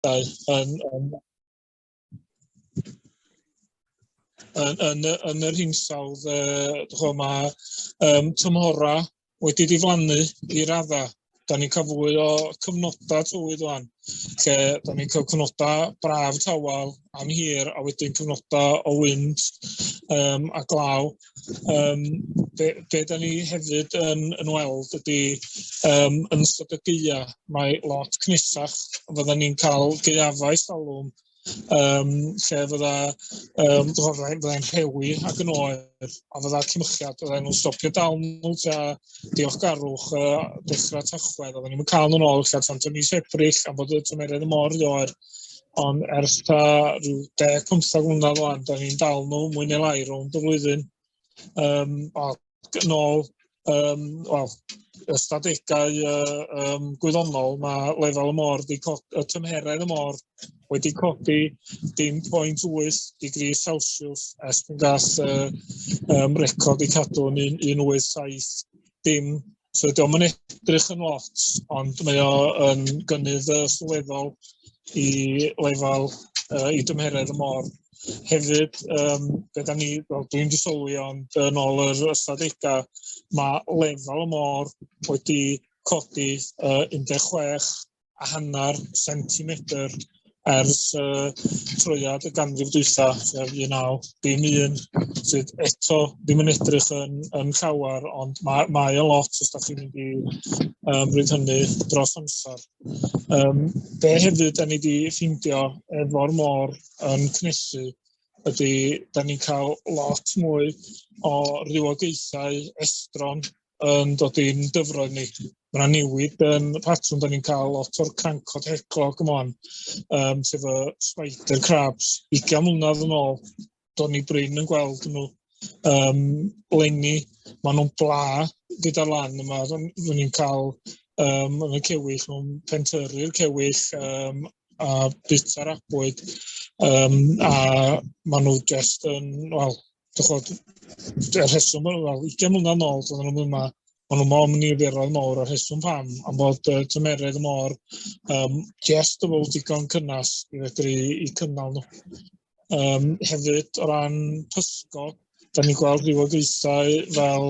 yn, yn, yn, yn, yn, yn yr hinsawdd, uh, mae um, tymhora wedi diflannu i radda da ni'n cael fwy o cyfnodau tywydd rwan, lle da ni'n cael cyfnodau braf tawel am hir a wedyn cyfnodau o wynt um, a glaw. Um, be, be da ni hefyd yn, yn weld ydy um, yn ystod y geia, mae lot cnusach, fydda ni'n cael geiafau salwm um, lle fydda um, gorau fyddai'n rhewi ac yn oer, a fydda cymychiad fydda'n nhw'n stopio dal nhw tra diolchgarwch uh, dechrau tachwedd, oedden ni'n cael nhw'n ôl lle tan tyn mis Ebrill am bod y tymeredd y mor ddoer, ond ers ta rhyw 10-15 mlynedd o'n, da ni'n dal nhw mwy neu lai rhwng y flwyddyn. Um, o, yn ôl um, well, ystadegau uh, um, gwyddonol, mae lefel y môr, di y tymheredd y môr wedi codi dim 0.8 digri Celsius es pan gall uh, um, record i cadw yn 187 dim So diolch yn edrych yn lot, ond mae o yn gynnydd uh, sylweddol i lefel uh, i dymheredd y môr. Hefyd, um, be da ni, well, dwi'n disylwi ond yn ôl yr ystadegau, mae lefel y môr wedi codi uh, 16 a hanner centimetr ers uh, troiad y ganrif dwytha, sef 1901, sydd eto ddim yn edrych yn, yn llawer, ond mae, mae y lot os da chi'n mynd i um, ryd hynny dros amser. Um, be hefyd da ni wedi ffindio efo'r môr yn cnesu ydy, da ni'n cael lot mwy o rywogaethau estron yn dod i'n dyfroedd ni. Mae yna newid yn y patrwm, da ni'n cael lot o'r crancod heclog yma, um, sef y spider crabs, 20 mlynedd yn ôl, do'n ni brin yn gweld nhw um, lenni, maen nhw'n bla gyda lan yma, rydyn ni'n cael um, yn y cewyll, nhw'n pentyrru'r cewyll um, a bita'r abwyd, um, a maen nhw just yn, wel, Dychod, y rheswm, wel, 20 mlynedd yn ôl, doedden nhw'n yma, ond nhw'n mor niferoedd mawr o'r rheswm pam, am bod uh, tymeredd y môr um, jest o fod digon cynnas i fedru i cynnal nhw. Um, hefyd, o ran pysgod, da ni'n gweld rhywogaethau fel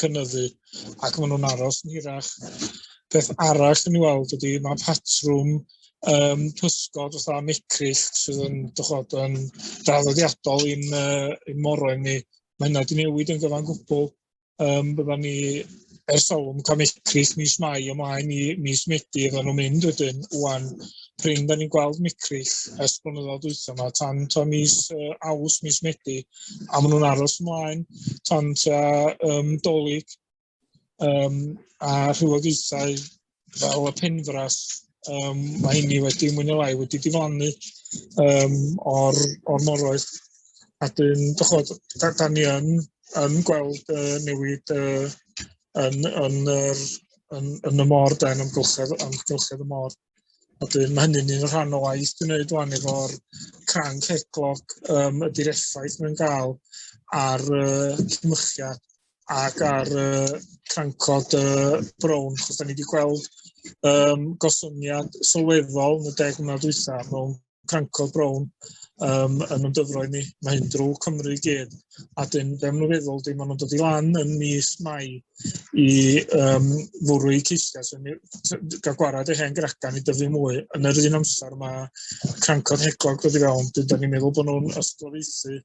cynyddu ac maen nhw'n aros yn hirach. Peth arall yn ei weld ydy mae patrwm um, pysgod fatha mecrill sydd yn dychod yn draddodiadol i'n uh, in moroedd ni. Mae hynna wedi newid yn gyfan gwbl. Um, bydda ni ers olwm cael mecrill mis Mai ymlaen i mis Medi fydda nhw'n mynd wedyn. Wan, prin da ni'n gweld micrill ers blynyddoedd dwytha yma, tan to mis uh, aws, mis medi, a maen nhw'n aros ymlaen tan ta um, dolyg um, a rhywogaethau fel y penfras, um, mae hynny wedi mwyn o lai wedi diflannu um, o'r, or moroedd. A dyn, dychod, da, da ni yn, yn gweld uh, newid uh, yn, yn, yn, yn, yn y môr, da, yn amgylchedd, amgylchedd y môr. A dwi'n ma' hynny'n un rhan o waith dwi'n neud ŵan efo'r cranc headlock yym ydi'r effaith mae'n ga'l ar yy cymycha ac ar yy crancod yy brown achos 'dan ni 'di gweld yym gostyngiad sylweddol yn y deg mlynedd dwytha mewn crancod brown um, yn ymdyfroedd ni. Mae hyn drwy Cymru i gyd. A dyn, be maen nhw'n feddwl, dyn maen nhw'n dod i lan yn mis mai i um, fwrw i ceisiau sy'n gael gwarad ei hen gracan i dyfu mwy. Yn yr un amser mae crancod heglog dod i fewn, dyn da ni'n meddwl bod nhw'n ysglyfaethu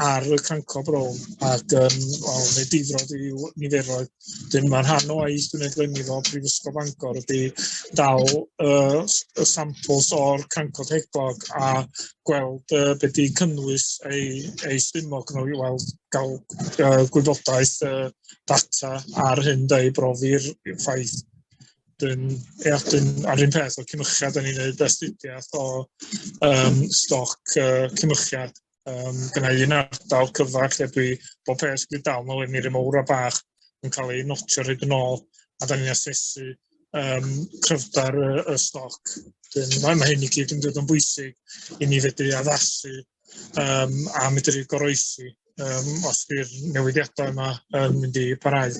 ar y canco brown ac um, well, neu difrod i'w niferoedd. Dyn mae'n rhan o aeth gwneud glenifo Prifysgol Bangor ydy dal uh, y samples o'r canco teglog a gweld uh, beth di cynnwys ei, ei stumog nhw i weld gael uh, gwybodaeth uh, data ar hyn da i brofi'r ffaith Dyn, ia, dyn, a'r un peth o cymychiad, da ni'n gwneud astudiaeth o um, stoc uh, cymychiad. Um, gyda un ardal cyfach lle dwi bob peth wedi dal nôl i'r miri mowr a bach yn cael ei notio rhaid yn ôl a da ni'n asesu um, cryfder y, y stoc. Dyn, mae, mae hyn i gyd yn dod yn bwysig i ni fedru addasu um, a medru goroesi um, os bydd newidiadau yma yn mynd i parhau.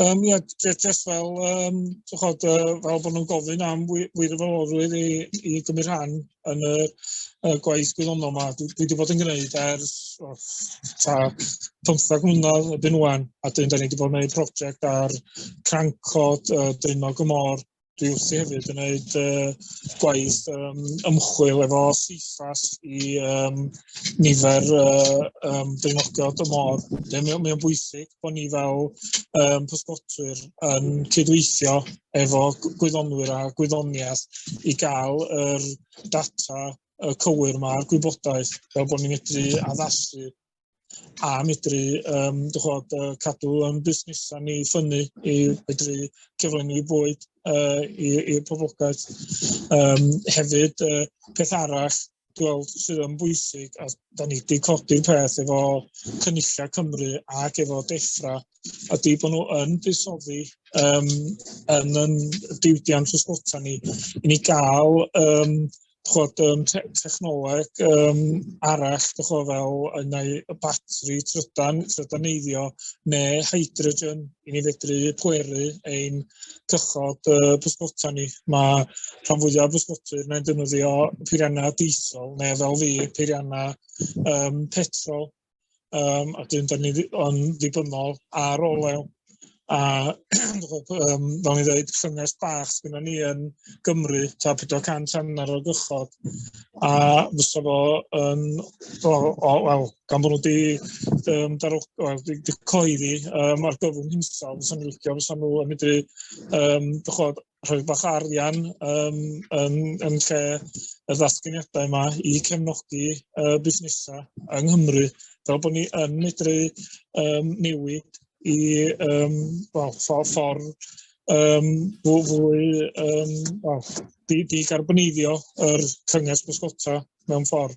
Um, ia, jyst fel, um, chod, uh, fel bod nhw'n gofyn am wirfoddolwyr i, i gymryd rhan yn y, y gwaith gwyddonol yma. Dwi, dwi wedi bod yn gwneud ers oh, ta 15 mlynedd y byn wan, a dyn da ni wedi bod yn gwneud prosiect ar crancod uh, dyn o gymor dwi wrthi hefyd yn gwneud uh, gwaith um, ymchwil efo CIFAS i um, nifer uh, um, dynodiad y môr. Mae'n mae bwysig bod ni fel um, pysgotwyr yn cydweithio efo gwyddonwyr a gwyddoniaeth i gael yr data y cywir mae'r gwybodaeth fel bod ni'n medru addasu a medru um, chod, uh, cadw yn busnesau ni ffynnu i medru cyflenwi bwyd uh, i'r poblogaeth. Um, hefyd, uh, peth arall gweld sydd yn bwysig a da ni wedi codi'r peth efo Cynulliau Cymru ac efo Defra ydy bod nhw yn buddsoddi um, yn yn diwydiant ysgota ni i ni gael um, chod, um, te technoleg um, arall, chod, fel yn ei batri trydan, trydaneiddio neu hydrogen i ni fedru pweru ein cychod uh, bysgota ni. Mae rhan fwyaf bysgotyr neu'n defnyddio peiriannau diesel neu fel fi peiriannau um, petrol um, a dyn da ni yn ddibynnol ar olew. A um, fel ni ddweud, llynges bach sydd ni yn Gymru, ta 400 hanner o gychod, a fysa fo yn, o, o, wel, gan bod nhw wedi um, darwch, well, di, di coeddi um, ar gyfwng hinsawdd, fysa ni licio, fysa nhw yn medru, um, dychod, rhoi bach arian um, yn, yn lle y ddatganiadau yma i cefnogi uh, busnesau yng Nghymru, fel bod ni yn medru um, newid i um, well, ffordd for, um, fwy, fwy um, well, di, di garboneiddio yr cynges bysgota mewn ffordd.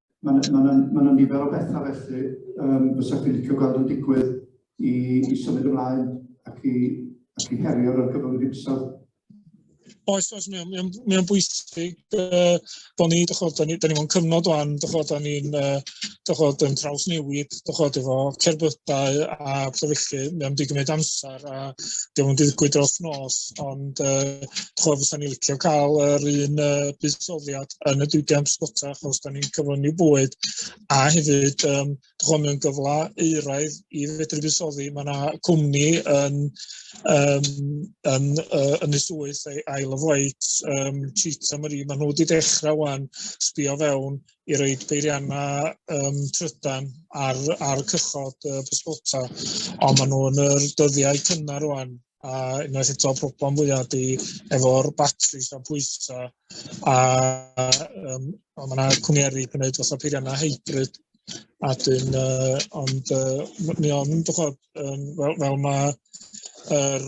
Mae yna ma ma ma nifer o bethau felly um, fysa chi'n licio gweld yn digwydd i, i symud ymlaen ac i, ac i herio ar gyfer yr hinsawdd. Oes, oes, mae'n mae o'n, mae o'n bwysig uh, bod ni, dych chod, da ni, da ni mewn cyfnod o'n, dych chod, da ni'n, uh, dych chod, yn traws newid, dych chod, efo cerbydau a pethau felly, mae'n mynd i gymryd amser. a dim ond digwydd dros nos, ond uh, chwa fysa ni licio cael yr un uh, buddsoddiad yn y diwydiant sgota, achos da ni'n cyflynu bwyd, a hefyd, um, chwa mewn gyfle euraidd i fedru buddsoddi, mae yna cwmni yn, um, yn, uh, yn y swyth, Isle of Wight, um, Cheetah Marie, maen nhw wedi dechrau wan sbio fewn i roed beiriannau um, trydan ar, ar cychod y pysgota, ond maen nhw yn yr dyddiau cynnar rwan, a unwaith eto problem fwyaf di efo'r batris a pwysa, a, um, a mae yna cwmniaru yn gwneud fatha peiriannau hybrid, a dyn, uh, ond uh, mi ond, um, fel, fel mae yr er,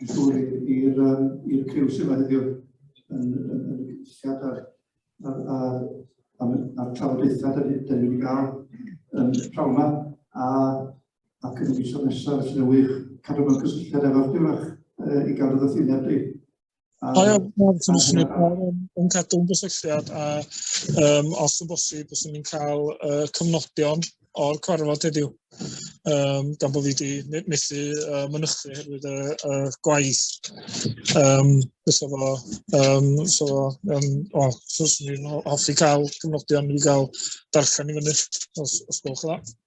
i ddŵr i'r um, i'r criw sydd yma heddiw yn, yn, yn y cynulliad a'r, a'r, a'r, a'r, a'r trafodaethau da ni wedi cael yn prawn yma a, ac yn y misoedd nesaf felly wych cadw mewn cysylltiad efo'r diwrach e, i gael y ddothyneb di. Um, o iawn, mae'n syniad mawr yn cadw'n gysylltiad a um, os yn bosib, bys ni'n cael uh, cyfnodion o'r cwarfod heddiw. Um, gan bod fi wedi methu uh, mynychu herwydd y uh, uh, gwaith. Um, so fo, um, so fo, um, o, so swn i'n hoffi cael cyfnodion i gael darllen i fyny, os, os gwelwch yn dda.